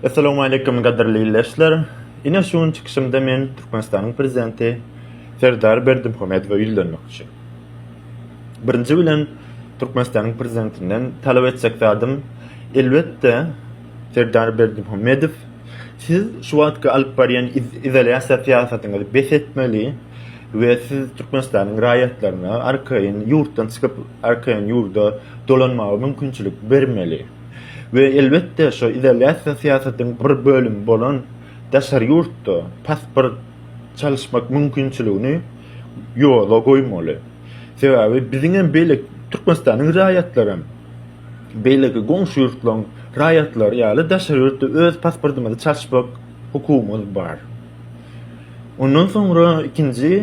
Assalamu aleykum gadyrly ildeşler. Ine şu gün çykyşymda men Türkmenistanyň prezidenti Serdar Berdimuhamedowa ýüzlenmek üçin. Birinji bilen Türkmenistanyň prezidentinden talap etjek zadym elbetde Serdar Berdimuhamedow siz şu wagtky alyp barýan izolýasiýa syýasatyňyzy bes etmeli we siz Türkmenistanyň raýatlaryna arkaýyn ýurtdan çykyp arkaýyn ýurda dolanmaga mümkinçilik bermeli. we elbetde şo izolýasiýa syýasatyň bir bölümi bolan daşary ýurtda pasport çalyşmak mümkinçiligini ýola goýmaly. Sebäbi biziňem beýle Türkmenistanyň raýatlaram beýleki goňşy ýurtlaryň raýatlary ýaly daşary ýurtda öz pasportymyzy çalyşmak hukugymyz bar. Ondan soňra ikinji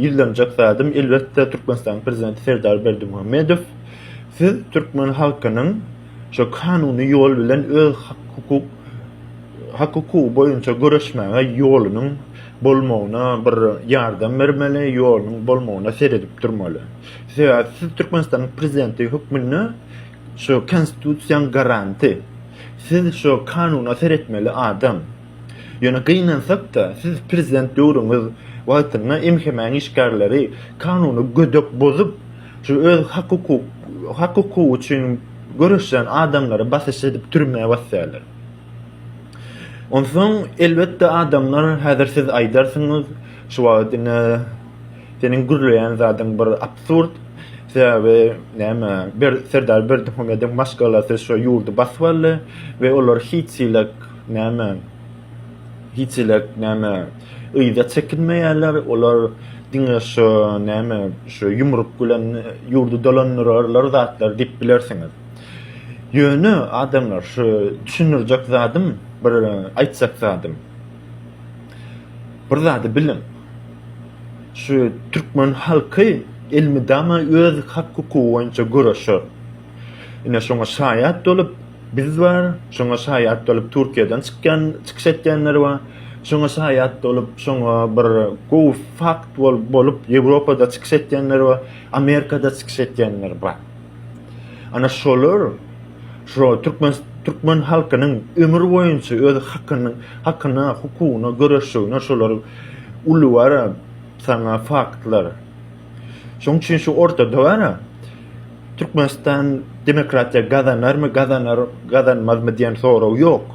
ýüzlenjek zadym elbetde Türkmenistanyň prezidenti Serdar Berdimuhamedow. Siz türkmen halkynyň şu kanuny ýol bilen öz hak-hukuk hak-hukugy boýunça göreşmäge ýolunyň bolmagyna bir ýardam bermeli, ýolunyň bolmagyna seredip durmaly. Sebäbi siz Türkmenistanyň prezidenti hökmünde şu konstitusiýaň garanty. Siz şu kanuna seretmeli adam. Ýöne gynansak-da, siz prezident döwrüňiz wagtynda MHM-iň işgärleri kanuny gödek bozup, Şu öz hak-hukuk, hak-hukugy üçin göreşýän adamlary basyş edip türmä basýarlar. Onsoň elbetde adamlar häzir siz aýdarsyňyz, şu wagt ine seniň gürleýän zadyň bir absurd, sebäbi näme bir Serdar Berdimuhamedowyň maşgalasy şu ýurdy basyp aldy we olar hiç-hiç näme, hiç-hiç näme, Yza çekinmeýärler, olar diňe şu näme, şu ýumruk bilen ýurdy dolandyrarlar zatlar diýip bilersiňiz. Ýöne adamlar şu düşündirjek zadym, bir aýtjak zadym. Bir zady biliň. Şu türkmen halky elmydama öz hak-hukugy boýunça göreşer. Ine şoňa şaýat bolup biz bar, şoňa şaýat bolup Türkiýeden çykýan, çykyş etýänler bar. Şoňa şaýat bolup, şoňa bir gowy fakt bolup Ýewropada çykyş etýänler bar, Amerikada çykyş etýänler bar. Ana şolar şo türkmen türkmen halkynyň ömür boýunça öz hakyny hakyna hukugyna göreşjegine şolar uly wara sana faktlar Şoň üçin şu ortada bar. Türkmenistan demokratiýa gazanarmy, gazanar, gazanmazmy diýen sorag ýok.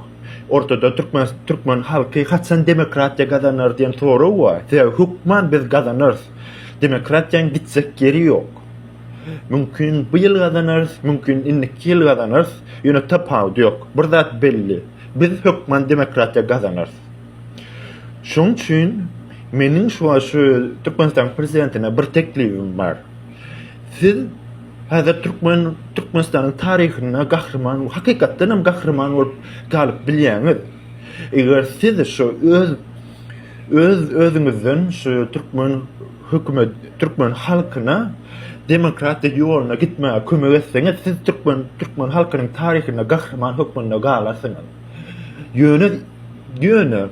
Ortada türkmen türkmen halky haçan demokratiýa gazanar diýen sorag bar. Sebäbi hökman biz gazanarys. Demokratiýaň gitjek ýeri ýok. Mümkin bu ýyl gazanarys, mümkin indiki ýyl gazanarys, ýöne tapawudy ýok. Bir zat belli, biz hökman demokratiýa gazanarys. Şoň üçin meniň şu şu Türkmenistanyň prezidentine bir teklibim bar. Siz häzir türkmen Türkmenistanyň taryhynda gahryman, hakykatdan hem gahryman bolup galyp bilýäňiz. Eger siz şu öz öz özüňizden şu türkmen hökümet, türkmen halkyna demokratik ýoluna gitmäge kömek etseňiz, siz türkmen türkmen halkynyň taryhynda gahryman hökmünde galarsyňyz. Ýöne, ýöne,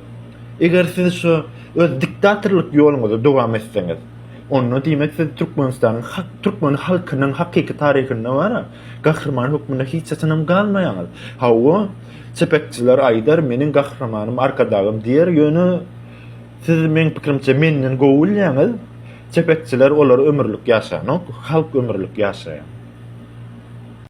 eger siz şu öz diktatorlyk ýoluňyzy dowam etseňiz, onda diýmek siz Türkmenistanyň hak, türkmen halkynyň hakyky taryhynda wara, gahryman hökmünde hiç haçanam galmaýaňyz. Hawa, çepekçiler aýdar, meniň gahramanym Arkadagym diýer, ýöne siz meň pikirimçe menden gowy bilýäňiz, çepekçiler olar ömürlik ýaşanok, halk ömürlik ýaşaýar.